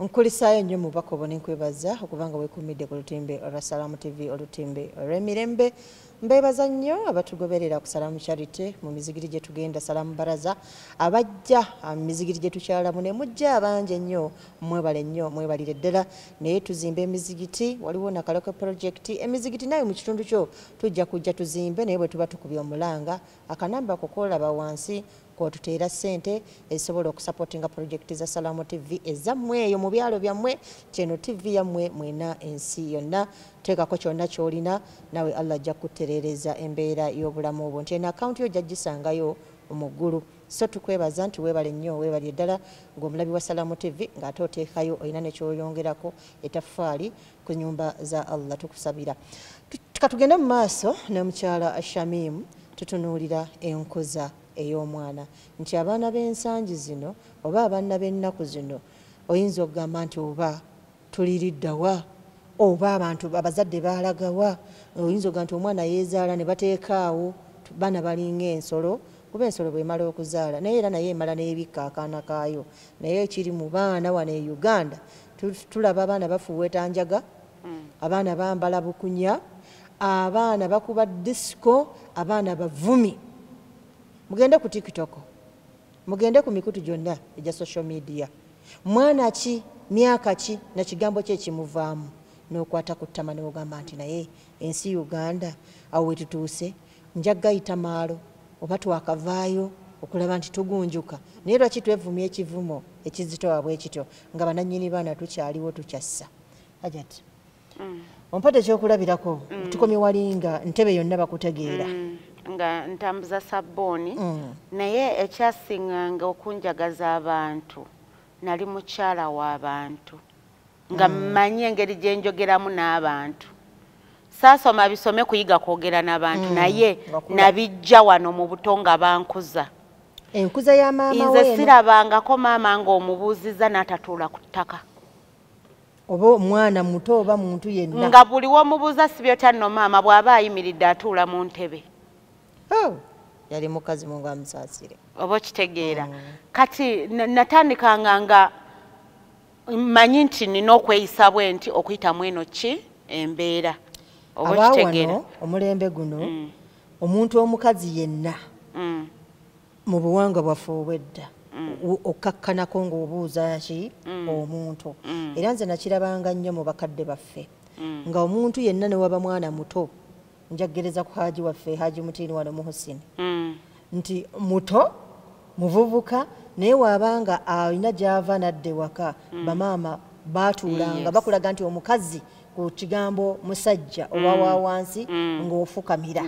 nkulisaayo nnyo mubaka obo nenkwebaza okubanga wekumidde ku lutimbe olwa salaamu tv olutimbe olw'emirembe mbeebaza nnyo abatugoberera ku salaamu charity mu mizigiri gye tugenda salaamu baraza abajja ah, mu mizigiri gye tukyalamu ne mujja abangi ennyo mwebale nnyo mwebalire ddala naye tuzimba emizigiti waliwo nakaloko purojekiti emizigiti naye mu kitundu kyo tujja kujja tuzimbe naye bwe tuba tukubye omulanga akanamba ako kolaba wansi kwotuteera ssente ezisobola okusapotinga pulojekiti za salamu tv ezammwe eyo mu byalo byammwe kyeno tv yammwe mwena ensi yonna teekako kyonna kyolina nawe allah ajja kukutereereza embeera y'obulamu obwo nti eno akawunti yo ojja gisangayo mu ggulu so tukwebaza nti webale nnyo webalye ddala ngaomulabi wa salamu tv ngaate oteekayo olina nekyoyongerako etafaali ku nyumba za allah tukusabira katugende mu maaso nemukyala shamim tutunuulira enkuza ey'omwana nti abaana b'ensangi zino oba abaana b'ennaku zino oyinza okugamba nti oba tuliriddawa oba abantu abazadde baalagawa oyinza okugamba nti omwana yeezaala ne bateekaawo baana balinga ensolo kuba ensolo bwemala okuzaala naye era naye emala nebikka akaana kaayo naye ekiri mu baana wano e uganda tulaba abaana bafuuweeta njaga mm. abaana bambala bukunya abaana bakuba disiko abaana bavumi mugende ku tiktok mugende ku mikutu gyonna egya social media mwana ki myaka ki na kigambo kye kimuvaamu n'okwata ku ttama neogamba nti naye ensi uganda awo wetutuuse nja gayita maalo oba twakavaayo okulaba nti tugunjuka naye lwaki twevumya ekivumo ekizitowa bwe kityo nga bananyini baana tukyaliwo tukyassa ajat mm. ompate ekyokulabirako mm. tukomye walinga ntebe yonna bakutegeera mm. nga ntambuza sabbuuni mm. naye ekyasinganga okunjagaza abantu nali mukyala w'abantu nga mm. manyi engeri gye njogeramu n'abantu saasoma bisome kuyiga kwogera n'abantu mm. naye nabijja wano mu buto nga bankuza enkuza ya maama nze sirabangako maama ng'omubuuziza n'atatuula ku ttaka oba omwana muto oba muntu yenna nga buli womubuuza sibyotya nno maama bw'aba ayimiridde atuula mu ntebe oh, yali mukazi mungu amusaasire oba okitegeera mm. kati natandikanga nga mmanyi nti nina okweyisa bwe nti okuyitamu eno ki embeera abaawano omulembe guno mm. omuntu omukazi yenna mm. mu buwangwa bwaffe obwedda mm. okkakkanako ng'obuuza ki omuntu era nze nakirabanga nnyo mu bakadde baffe nga omuntu yenna ne waba mwana muto njagereza ku haji waffe haji mutiini wano muhusini mm. nti muto muvubuka naye waabanga alina gyava nadde waka mm. bamaama baatuulanga bakulaga nti omukazi ku kigambo musajja mm. oba wa wansi mm. ng'ofukamira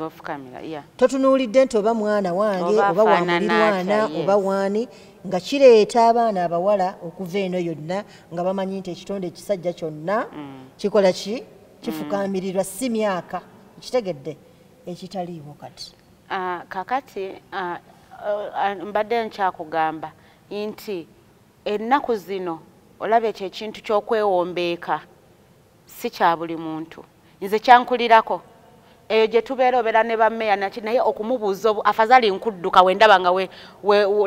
totunuulidde nti oba mwana wange oba wamulirwana oba waani nga kireeta abaana abawala okuva eno yonna nga bamanyi nti ekitonde ekisajja kyonna mm. kikola ki kifukaamirirwa si myaka ekitegedde ekitaliiwo kati ah, kakati ah, ah, mbadde nkyakugamba nti ennaku zino olaba ekyo ekintu ky'okwewombeeka si kya buli muntu nze kyankulirako eyo gye tubeera obeera ne bameya naki naye okumubuuza afazali nkudduka wendaba nga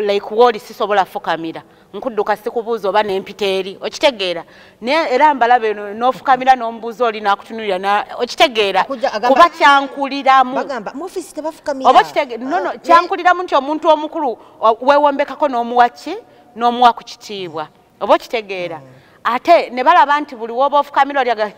like wooli sisobola fukamira nkudduka sikubuuza oba nempita eri okitegeera era mbalaba eno nofukamira nomubuuza oli nakutunulira okitegeera kuba kyankuliramu eh? kyankuliramu nti omuntu omukulu wewombekako nomuwaki nomuwa ku kitiibwa oba okitegeera mm. ate ne balaba nti buli woba ofukamira olyaga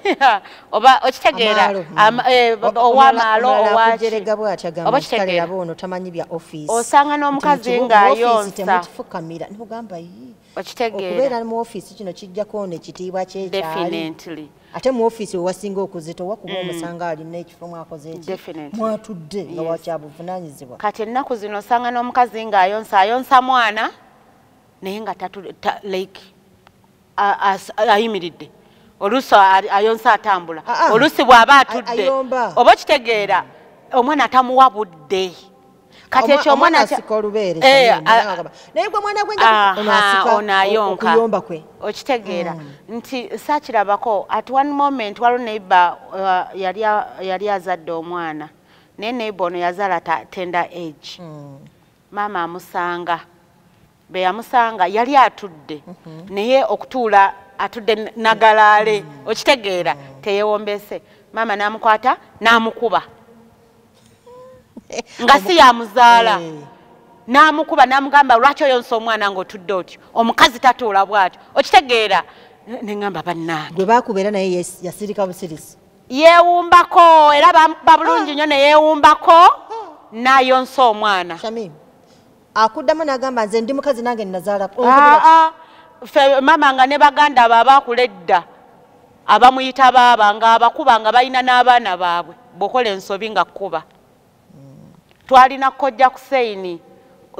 oba okitegeera eh, owamaalo owakitegeeraosanga n'omukazi ng'ayonsa okitegeeraokubeera mu ofiisi kino kijjako ono ekitiibwa kyekyali ate mu ofiisi wewasinga okuzita owa kuba mm. omusanga alina ekifo mwakoze ekimwatudde nga wakyabuvunanyizibwa kati ennaku zino osanga n'omukazi ng'ayonsa ayonsa mwana naye nga like ayimiridde oluusi ayonsa atambula ah, ah. oluusi bw'aba atudde oba okitegeera omwana atamuwa budde kati ekyo omwana asika olubeere eh, naye gwe mwana gwe onayonka okitegeera mm. nti sakirabako at one moment waliwo neiba uh, yali azadde omwana naye neiba ono yazaala tender age mm. maama amusanga be yamusanga yali atudde mhm. naye okutuula atudde nagalaale mhm. okitegeera mhm. teyewombeese maama n'amukwata n'amukuba nga si yamuzaala eh. n'amukuba n'amugamba lwaki oyonsa omwana ng'otudde otyo omukazi tatuula bw'atyo okitegeera neŋamba bannange gwe baakubeera naye yasirika busirisi yeewumbako era bamukuba bulungi nnyo ne yeewumbako n'ayonsa omwana akuddamu n'agamba nze ndi mukazi nange nnazaala ah, ah. fe maama nga ne baganda abo abaakula edda abamuyita baaba nga abakuba nga balina n'abaana baabwe bwokola ensobi nga kukuba twalina kojja kuseini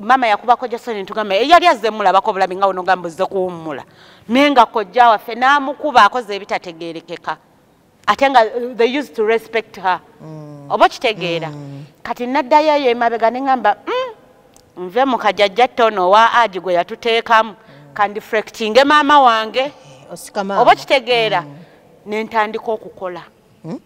mama yakuba kojja kuseini ntugamba eyali eh, azze mulabako obulabi nga onogamba ozze kuwummula naye nga kojja waffe n'amukuba akoze ebitategeerekeka ate nga uh, they used to respect her mm. oba kitegeera mm. kati naddayo eyo emabega neŋamba mm, nve mukajajja tono owa agi gwe yatuteekamu mm. kandifrectinge maama wange eh, oba kitegeera mm. nentandika okukola mm?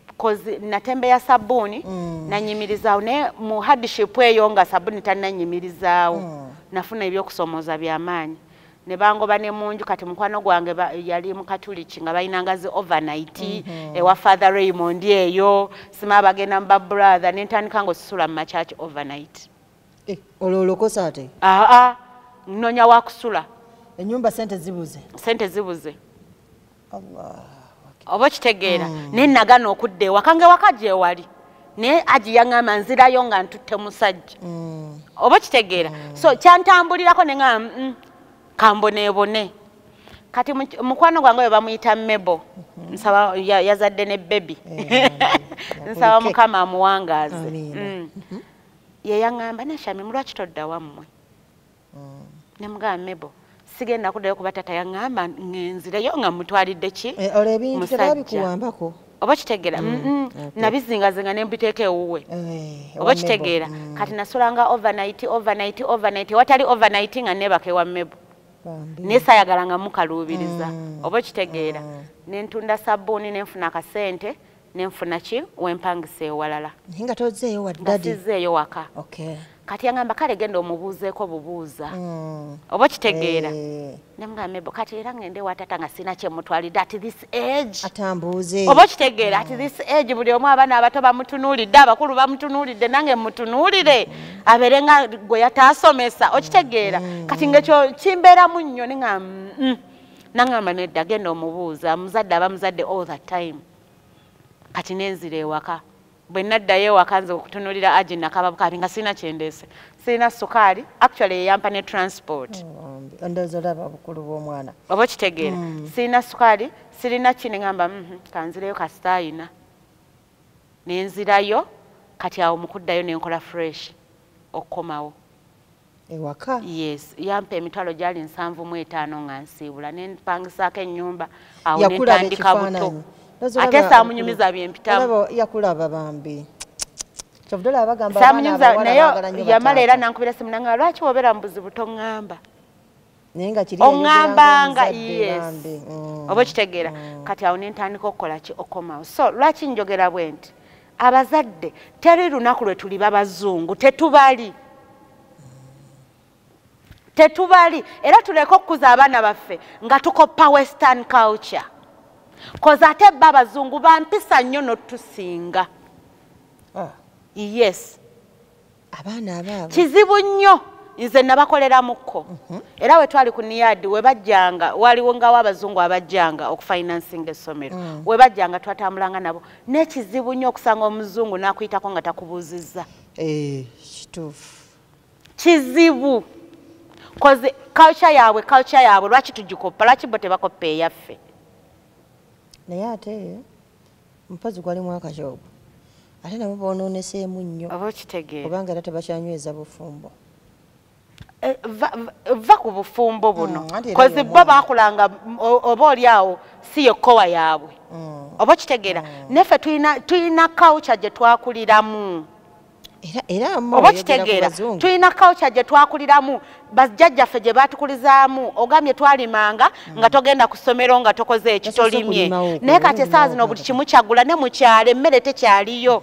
bcause natembe ya sabbuuni mm. nanyimirizaawo naye mu hardship eyo nga sabbuuni tananyimirizaawo mm. nafuna ebyokusomooza byamaanyi ne bangoba ne munju kati mukwano gwange yali mukatuliki nga balina ngazi overnight mm -hmm. ewa father raymond eyo sima bagenda mu babrother nentandika nga osisula mu machurch overnight eh, olwo olokosa ate aa ah, ah, nnonya wakusula enyumba sente zibuze sente zibuze oba okitegeera mm. naye nagana okudda ewaka nga ewaka gyewali naye aji yaŋamba nzirayo nga ntutte musajja mm. oba okitegeera mm. so kyantambulirako ne ŋaa mm, kamboneebone kati mukwano gwange oyo bamuyita mebo mm-hmm. nsaba yazadde ne bebi eh, nsaba mukama amuwangaaze mm. mm-hmm. yeyaŋamba nashami mulwaki todda wammwe mm. nemugamba mebo sigenda kudayo kuba tata yaŋamba ngenzireyo nga mutwalidde ki eh, olwo ebintu tebabikuwambako oba kitegera mm, mm, nabizingazinga nembiteeka ewuwe eh, oba kitegeera kati nasulanga overnight overnight overnight watali overnight nga nebaka ewa mebo naye sayagala nga mukaluubiriza oba kitegeera nentunda sabbuuni nenfuna akasente nenfuna ki wempangisa ewalala nga tozeeyo waddadizeeyo waka okay. kati yangamba kale genda omubuuzeeko bubuuza mm. oba okitegeera eh. nemgambo kati era ngende watata nga sina kyemutwalidde at this age atambuuze oba okitegeera at mm. this age buli omu abaana abato bamutunuulidde abakulu bamutunuulidde nange mutunuulire mm. abeere nga gwe yataasomesa okitegeera mm. kati ngekyo kimbeeramu nnyo nenga mm. nangamba nedda genda omubuuza muzadde aba muzadde all the time mm. kati nenzira ewaka bwe naddayo ewaka nze okutunulira aji nakaba bukabi nga sirina kyendeese sirina sukaali actually yeyampa ne transport oh, ndowooza olaba obukulu bw'omwana oba okitegeera mm. sirina sukaali sirina kini ngamba mhm, kanzireyo kasitaayina nenzirayo kati awo mukuddayo nenkola fresh okukomawo ewaka yes yampa emitwalo gyali nsanvu mu etaano nga nsiibula ne mpangisaako ennyumba awo ne ntandika buto ate saamunyumiza byempitamu yakulaba bambi saamunyumiza naye yamala era nankubira simu nanga lwaki wobeera mu buzibu toŋŋamba oŋambanga mm. oba okitegeera mm. kati awo nentandika okukola ki okomawo so lwaki njogera bwe nti abazadde teri lunaku lwe tuli babazungu tetubali tetubali era tuleke okukuza abaana baffe nga tukoppa western culture koza ate ba abazungu bampisa nnyo notusinga ah. yes abaana abaabo kizibu nnyo nze nabakoleramukko mhm. era wetwali ku niyadi webajjanga waliwo ngawo abazungu abajjanga okufinansinga essomero mm. webajjanga twatambulanga nabo nekizibu nnyo okusanga omuzungu nakuyitako nga takubuuzizza eh, kituufu kizibu koze kalca yaabwe kalca yaabwe lwaki tugikoppa lwaki bo tebakoppa eyaffe naye ate mpozi gwali mwaka ki ogwo ate nabo bononeseemu nnyo oba okitegeera obanga era tebakyanyweza bufumbo eh, va ku bufumbo buno mm, kozi bo bakulanga oba oli awo si yekkowa yaabwe mm. oba okitegeera mm. naffe tulina kawukya gye twakuliramu oba okitegeera tulina culture gye twakuliramu bajjajjaffe gye baatukulizaamu ogambye twalimanga mm. nga togenda ku ssomero nga tokoze eki tolimye naye kati esaawa zino buli kimu kyagula ne mukyalo emmere tekyaliyo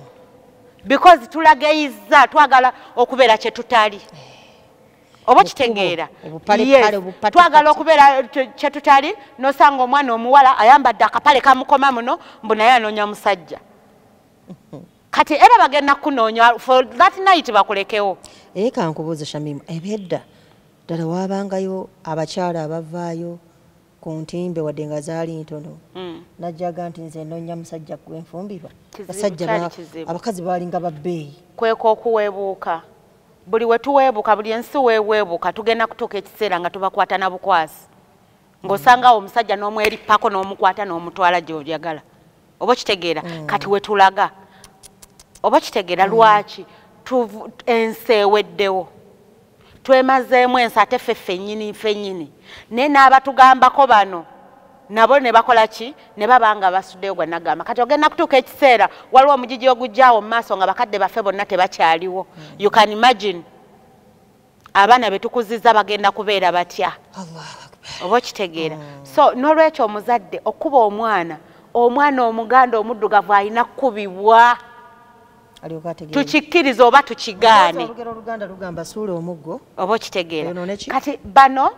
because tulageyizza twagala okubeera kye tutali eh. oba kitegeera twagala okubeera kyetutali nosanga omwana omuwala ayambadde akapale kamukoma muno mbu naye anoonya musajja kati era bagenda kunoonya for that night bakulekewo naye kankubuuze shamimu ebyedda ddala waabangayo abakyala abavaayo ku ntimbe wadde nga zaali ntono hmm. najjaga nti nze nonya musajja gwenfumbirwa basajja abakazi baalinga babbeeyi kweka okuweebuuka buli wetuweebuka buli ensi weweebuka tugenda kutuuka ekiseera nga tubakwata na bukwasi ng'osanga awo omusajja n'omwerippako n'omukwata n'omutwala gy'oyagala oba okitegeera mm. kati we tulaga oba okitegeera mm. lwaki ensi eweddewo twemazeemu ensi ate ffe ffennyini ffennyini naye n'abatugambako bano nabo ne bakola ki ne baba nga basuddeyo gwa nagamba kati ogenda kutuuka ekiseera waliwo omugigi ogujjaawo mu maaso nga bakadde baffe bonna tebakyaliwo mm. you can imagine abaana betukuziza bagenda kubeera batya oba okitegeera mm. so nolwekyo omuzadde okuba omwana omwana omuganda omuddugavu alina kukubibwa tukikkiriza oba tukigaane oba okitegeera kati bano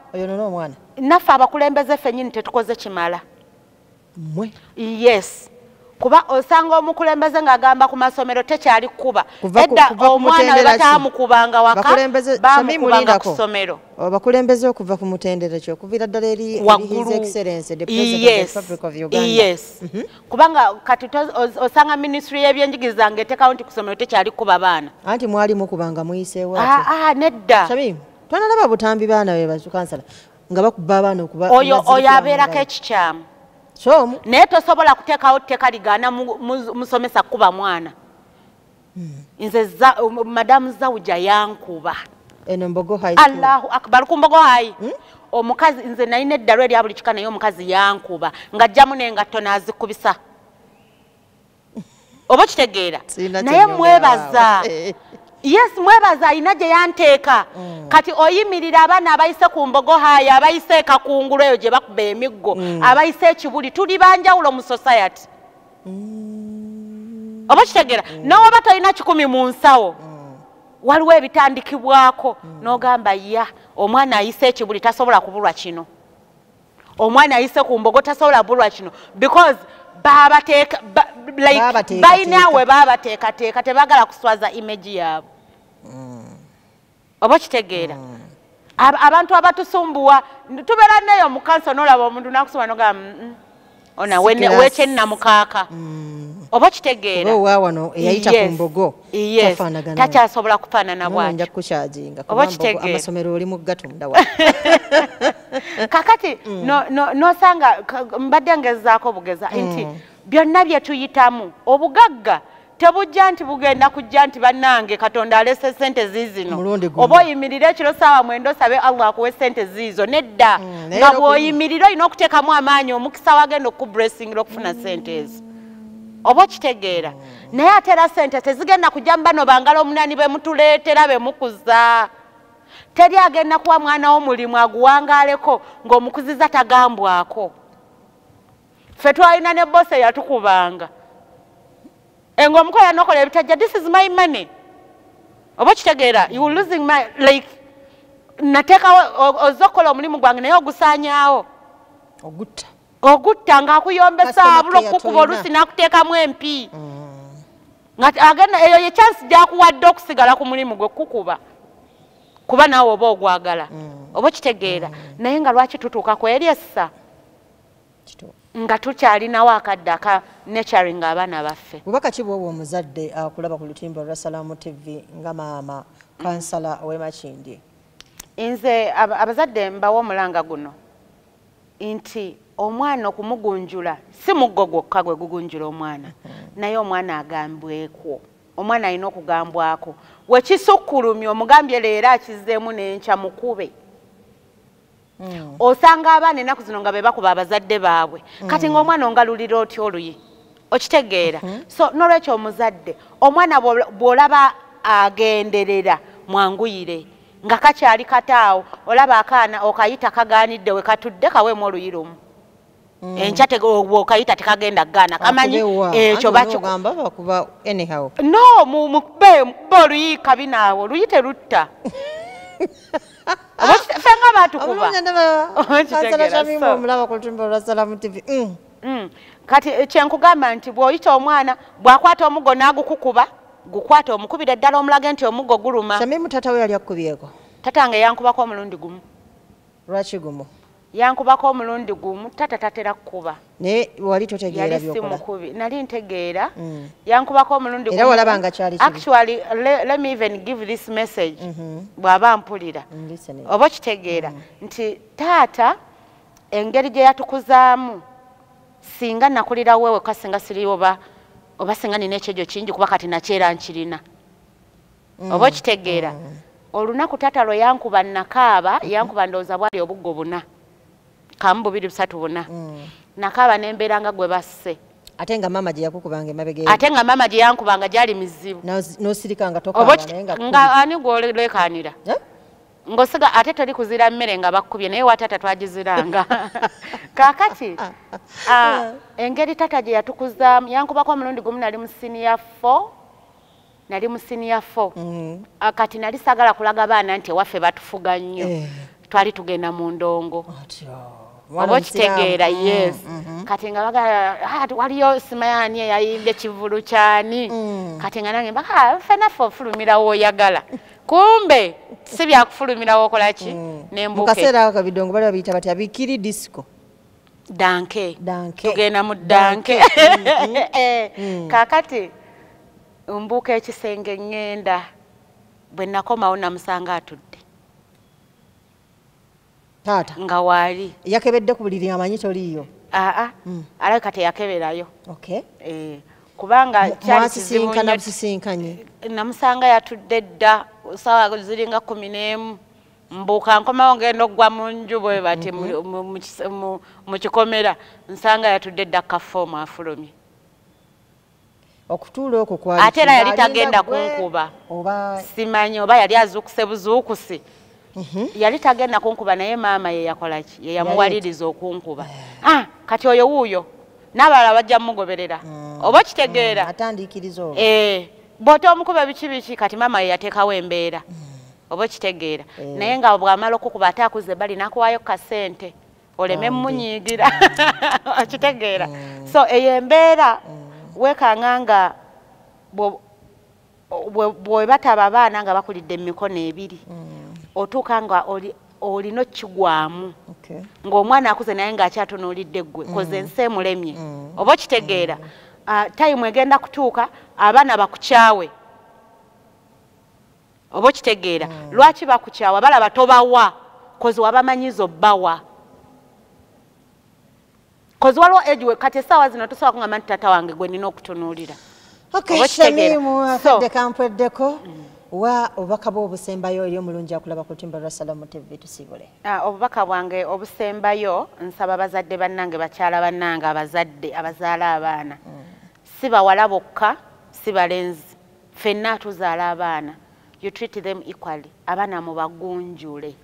naffe abakulembeze fenyini tetukoze kimala mwe yes kuba osanga omukulembeze ng'agamba ku masomero tekyali kukuba edda omwana we bataamukubanga waka bamukubanga ku somero abakulembeze okuva ku mutendera ki okuviira ddala eri yes mhm. kubanga kati osanga minisitule y'ebyenjigiriza ng'etekawo nti ku somero tekyali kukuba baana anti mwalimu kubanga muyiseewo ah, ah, nedda twanalaba butambi baana be bazukansala nga bakuba abaana okuba oyo oyo abeerako ekikyamu kyomu naye tosobola kuteekawo tteeka ligaana musomesa kukuba mwana hmm. nze um, madamu zawuja yankuba allahu akbar ku mbogo hayi hmm? omukazi nze nalina eddalu erya buli kika naye omukazi yankuba ng'ajjamu nengatto naazikubisa oba okitegeera naye mwebaza eh. yes mwebaza alina gye yanteeka mm. kati oyimirira abaana abayise ku mbogo haayo abayise ekakungulu eyo gye bakuba emiggo mm. abayise ekibuli tuli banjawulo mu society mm. oba okitegeera nowoba tolina kikumi mu nsawo waliwo ebitandikibwako n'ogamba ya omwana ayise ekibuli tasobola kubulwa kino omwana ayise ku mbogo tasobola bulwa kino because babateeka balina we babateekateeka tebagala kuswaza image yaabo mm. oba okitegeera mm. abantu abatusumbuwa tubeera neyo mukanso nolaba omuntu nakusoma nogamba ona wekyennamukaaka mm. oba kitegeera owa wano eyayita ku mbogo tafaanagana takyasobola kufaanana bwatyo kukyaginga oba kitegeera amasomero oli mu gatunda wa kakati mm. nosanga mbadde ngezaako bugeza nti mm. byonna bye tuyitamu obugagga tebujja nti bugenda kujja nti bannange katonda alese sente ziizino oba oyimirire ekiro saawa mwenda osabe allah akuwe sente ziizo nedda mm, nga bwoyimirire olina okuteekamu amaanyi omukisa wagenda okukubresingira okufuna sente ezo oba okitegeera naye ate era sente tezigenda kujja mu bano bangala omunani bemutuleetera bemukuza teri agenda kuwa mwana wo mulimu aguwangaaleko ng'omukuziza tagambwako ffe twalina ne bosi eyatukubanga enga eh, omukola nokola ebitajja this is my money oba okitegeera you losing my like nateekawo ozze okukola omulimu gwange naye ogusaanyaawo ogutta ogutta ng'akuyombesa abula okukukuba olusi n'akuteekamu empi mm. agenda eyo ye chansi gyakuwadde okusigala ku mulimu gwe kukuba kuba naawe oba ogwagala mm. oba okitegeera mm. naye nga lwaki tutuuka kweresa nga tukyalinawo akadde aka naturing abaana baffe bubaka ki bwoba omuzadde akulaba ku lutimba olwa salaamu tv nga maama kansala owemakindye nze abazadde mbawo omulanga guno nti omwana okumugunjula si muggo gwokka gwe gugunjula omwana mm-hmm. naye omwana agambwekwo omwana alina okugambwako wekisukkulumya omugambye leero akizeemu nenkya mukube mm. osanga abaana enaku zino nga bebakuba abazadde baabwe mm. kati ngaomwana ongalulira otya oluyi okitegeera mm -hmm. so nolwekyo omuzadde omwana bwolaba agenderera mwanguyire nga kakyali kataawo olaba akaana okayita kagaanidde wekatudde kaweemu oluyi lumu Mm. enkya bwokayita tekagenda kugaana kamanyi ekyo no mukube mukube oluyiika binaawo luyi terutta fe nga batukubaati kyenkugamba nti bwoyita omwana bwakwata omugo nagukukuba gukwata omukubire ddala omulage nti omugo guluma tata nga yankubako omulundi gumu lwaki gumu yankubako omulundi gumu tata tatera kukuba naye wali totegeera byokola yali simukubi nali ntegeera mm. yankubako omulundi gumu era walaba nga kyali kibi actually le, let me even give this message mm -hmm. bwaba mpulira mm, oba kitegeera mm. nti taata engeri gye yatukuzaamu singa nakulira wewe kasinga siri oba oba singa nina ekyejo kingi kuba kati nakyera nkirina mm. oba okitegeera mm. olunaku taata lwe yankuba nakaaba mm-hmm. yankuba ndowooza bwali obuggo buna kamu bubiri busatu buna mm. nakaaba nembeera nga gwe basse ate nga maama gye yakukubanga emabega ate nga maama gye yankubanga gyali mizibu nosirika nga tokaanga ani gwolekanira eh? ngosiga ate toli kuzira mmere nga bakkubye naye wataata twagiziranga kakati ah, engeri taata gye yatukuzaamu yankubako omulundi gumu nali mu siniya fo nali mu senior four mm. ah, kati nali sagala kulaga baana nti ewaffe batufuga nnyo eh. twali tugenda mu ndongo oba okitegeera mm, yes mm-hmm. kati nga bagala ah, waliyo simayani eyayimbye kivulu kyani mm. kati nga nange mbaka ah, fenaffe ofulumira woyagala kumbe si byakufulumira wokolaki mm. nembukaseera kabidongo bali babiyita batya bikiri disco danke danke tugenda mu danke mm-hmm. eh, mm. kakati mbuuka ekisenge ngenda bwe nakomawo namusanga atudde taata nga waali yakebedde ku buliri amanyi toliiyo aa mm. alabika teyakeberayo okay. eh. kubanga kyalisisinkanye namusanga yatudde dda sawa ziringa kumi n'emu mbuka nkomawo ngenda okugwa mu nju bwe bati mhm. mu kikomera nsanga yatudde dda kafoomu afulumye okutuula okwo kwate era yali tagenda kunkuba simanyi oba yali azuukuse buzuukusi mhm. yali tagenda kunkuba naye maama yeyakolaki yeyamuwaliriza okunkuba eh. ah, kati oyo wuuyo n'abalala bajja mugoberera mm. oba okitegeera mm, eh. bwota omukuba biki biki kati mama yeyatekawo embeera mm. oba okitegeera mm. naye nga bwamala okukuba ate akuze bali nakuwayo kasente oleme munyiigira mm. okitegeera mm. so eyo embeera mm. wekanga nga bwebataba abaana nga bakulidde mumikono ebiri mm. otuuka nga oli olina okukigwamu ng'omwana akuze naye ng'akyatunuulidde ggwe mm. koze ensi emulemye mm. oba okitegeera mm. ah, tayimu egenda kutuuka abaana bakukyawe oba okitegeera lwaki bakukyawa balaba tobawa kozi wabamanyiza obbawa kozi waliwo age we kati esaawa zino tosobola kungamba nti taata wange gwe nina okutunuulira okitegeerafadde kampweddeko mm. wa obubaka bwe obusembayo eri omulungi akulaba ku lutimba lwa salamu tv tusiibule ah, obubaka bwange obusembayo nsaba bazadde bannange bakyala bannange abazadde abazaala abaana mm. si bawala bokka si balenzi fenna tuzaala abaana you treat them equally abaana mubagunjule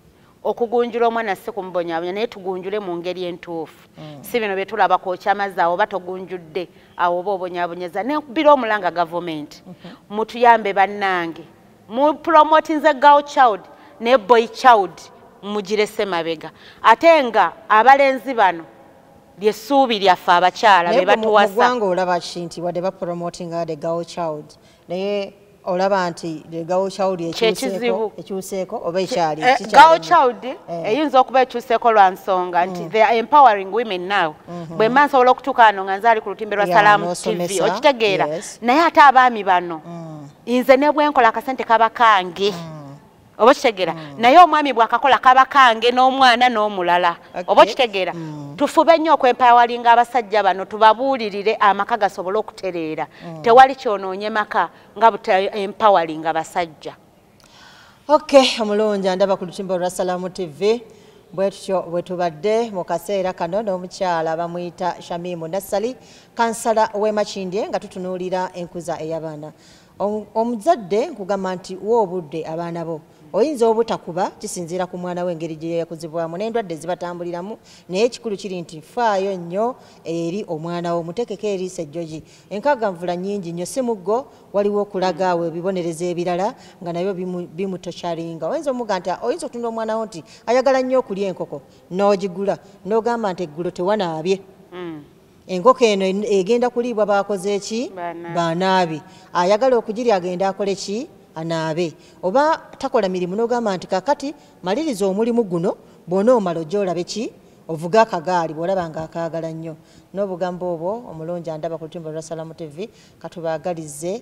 okugunjula omwana si kumubonyabonya naye tugunjule mu ngeri entuufu mm. si bino bye tulaba kwokya amazzi awo oba togunjudde awo oba obonyabonyeza nebira omulanga gavumenti mhm. mutuyambe bannange mu promotinze girl child ne boy child mugirese mabega ate nga abalenzi bano lyessuubi lyaffe abakyala be batuwasa olaba ki nti wadde bapromotinga the girl child naye olaba nti gawo child ekyuseeko oba ekyali eh, gawo child eh. eyinza okuba ekyuseeko lwa nsonga nti mm. they are empowering women now mm-hmm. bwe mba nsobola okutuuka ano nga nzaali ku lutimbe lwa salaamu tv okitegeera naye ate abaami bano mm. nze ne bwenkola akasente kaba kange mm. oba okitegera mm. naye omwami bwakakola kaba kange n'omwana n'omulala okay. oba okitegera mm. tufube nnyo okwempawalinga abasajja bano tubabuulirire amaka gasobole okutereera mm. tewali kyonoonye maka nga butaempawalinga basajja ok omulungi andaba ku lutimba olwa salaamu tv bwetutyo bwetubadde mu kaseera kano n'omukyala bamuyita shamimu nassali kansala w'emakindye nga tutunuulira enkuza ey'abaana omuzadde nkugamba nti wa obudde abaana bo oyinza obutakuba kisinziira ku mwana we engeri gye yakuzibwamu n'endwadde zibatambuliramu naye ekikulu kiri nti faayo nnyo eri omwana wo mutekeko eriisa ejjoji enkaganvula nyingi nnyo si muggo waliwo okulaga awo ebibonerezo ebirala nga nabyo bimutokyalinga oyinza omuga nti oyinza okutunda omwana wo nti ayagala nnyo okulya enkoko n'ogigula n'ogamba nti eggulo tewanaabye hmm. enkoko eno egenda kuliibwa bakoze ki banaabi ayagala okugirya agenda akole ki anaabe oba takola mirimu nogamba nti kakati maliriza omulimu guno bwona omala ojja olabe ki ovuga akagaali bwolaba nga akaagala nnyo n'obugambo obwo omulungi andaba ku lutimba lwa salamu tv katubaagalize